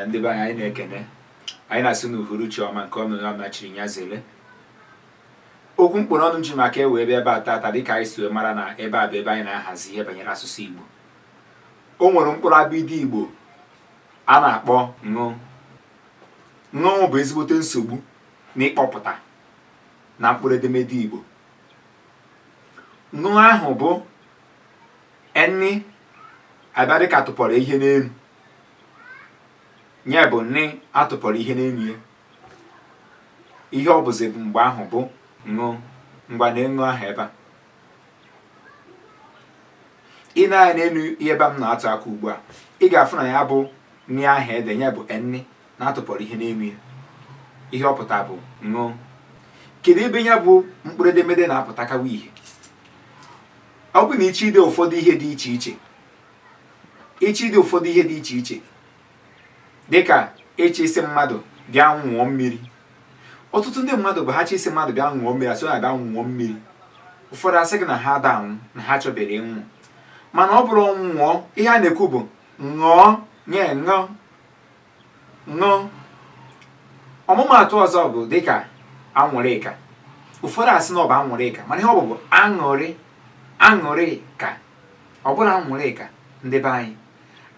ndị be anyị anyị na-ekene anyị na-asị na uhuruchi ọma nke onye ọbụna chiri ya zere okwu m kpụ n'ọnụ ji maka ya wee bịa ebe a tata dịka anyị si wee mara na ebe a bụ ebe anyị na-ahazi ihe banyere asụsụ Igbo o nwere mkpụrụ abịdị Igbo a na-akpọ ṅụ ṅụ bụ ezigbote nsogbu n'ịkpọpụta na mkpụrụ edemede Igbo ṅụ ahụ bụ N a bịa dịka tụpọrọ ihe n'elu ya bụ N a tụpọrọ ihe n'elu ya ihe ọ bụzi mgbe ahụ bụ ṅụ ngwa nee ṅụ ahụ ebe a i nee anya n'elu ihe ebe a m na-atụ aka ugbu a ị ga-afụ na ya bụ N ahụ e de ya bụ N a tụpọrọ ihe n'elu ya ihe ọ pụta bụ ṅụ kedu ebe ya bụ mkpụrụ edemede na-apụtakawa ihe ọ bụ na ị chọ ide ụfọdụ ihe dị iche iche ị chọ ide ụfọdụ ihe dị iche iche dịka ị chọ ịsị mmadụ bịa ṅụọ mmiri ọtụtụ ndị mmadụ bụ ha chọ ịsị mmadụ bịa ṅụọ mmiri asị na bịa nwụọ mmiri ụfọdụ asị gị na ha ada anwụ na ha achọberọ ịnwụ mana ọ bụrọ nwụọ ihe a na-ekwu bụ ṅụọ nye ṅụọ ṅụ ọmụmaatụ ọzọ bụ dịka anwụrịka ụfọdụ asị na ọ bụ anwụrịka mana ihe ọ bụ bụ aṅụrịka ọ bụrọ anwụrịka ndị be anyị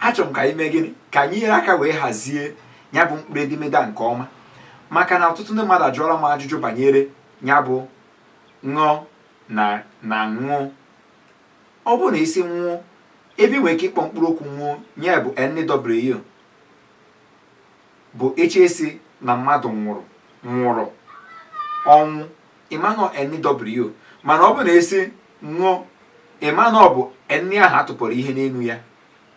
achọrọ m ka anyị mee gịnị ka anyị nyere aka wee hazie ya bụ mkpụrụ edemede a nke ọma maka na ọtụtụ ndị mmadụ ajụọla m ajụjụ banyere ya bụ ṅụ na nwụ Ọ bụrụ na a sị nwụ, ebe i nwere ike ịkpọ mkpụrụ okwu nwụ nya bụ NW. Bụ a chọ ịsị na mmadụ nwụrụ, nwụrụ, ọnwụ, ị ma na ọ NW. Mana ọ bụrụ na a sị ṅụ, ị ma na ọ bụ N ahụ a tụpọrọ ihe n'elu ya.